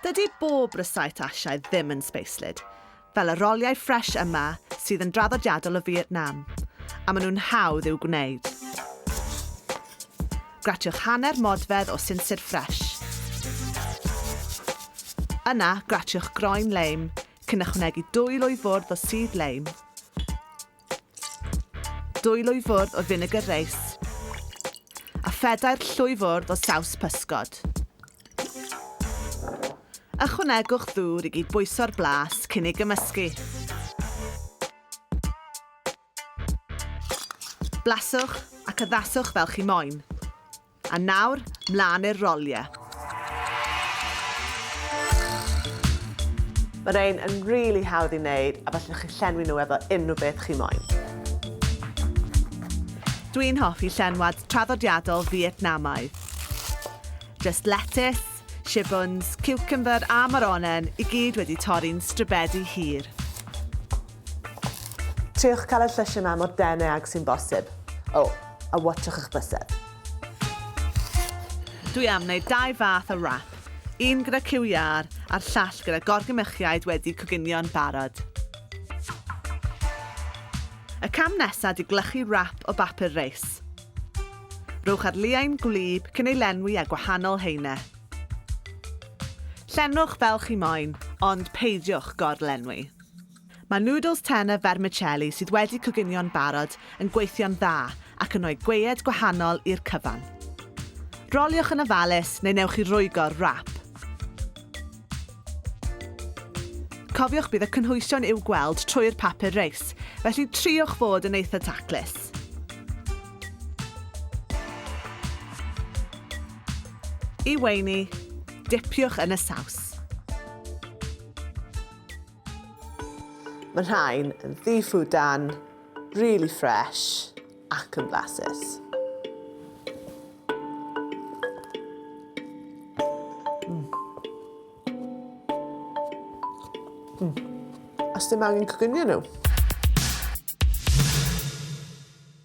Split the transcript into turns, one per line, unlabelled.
Dydy bob rysáit Asiaidd ddim yn sbeislyd, fel y roliau ffresh yma sydd yn draddodiadol o Fietnam, a maen nhw'n hawdd i'w gwneud. Gratiwch hanner modfedd o sinsir ffresh. Yna, gratiwch groen leim, cyn ychwanegu dwy lwy fwrdd o sudd leim. Dwy lwyfwrdd o finegr reis a phedair llwyfwrdd o saws pysgod. Ychwanegwch ddŵr i gyd bwyso'r blas cyn ei gymysgu. Blaswch ac addaswch fel chi moyn. A nawr, mlaen i'r rolie. Mae rhein yn rili hawdd i wneud a felly chi'n llenwi nhw efo unrhyw beth chi moyn. Dwi'n hoffi llenwad traddodiadol Fietnamaidd. Just lettuce, shibuns, ciwcymbyr a moronen i gyd wedi torri'n stribedi hir. Triwch cael y llysiau yma mor dene ag sy'n bosib. O, a watsiwch eich bysedd. Dwi am wneud dau fath o wrap, un gyda cyw iâr a'r llall gyda gorgymychiaid wedi coginio'n barod. Y cam nesaf di glychu wrap o bapur reis. Rhowch ar liain gwlyb cyn ei lenwi â gwahanol haenau. Llenwch fel chi moyn, ond peidiwch gor-lenwi. Mae nwdls tena fermicelli sydd wedi coginio'n barod yn gweithio'n dda ac yn rhoi gwead gwahanol i'r cyfan. Roliwch yn ofalus neu newch chi rwygo'r wrap. Cofiwch bydd y cynhwysion i'w gweld trwy'r papur reis, felly triwch fod yn eitha' taclus. I weini, dipiwch yn y saws. Mae rhain yn ddifu dan, really fresh ac yn flasus. Mm. Mm. Os dim angen coginio nhw.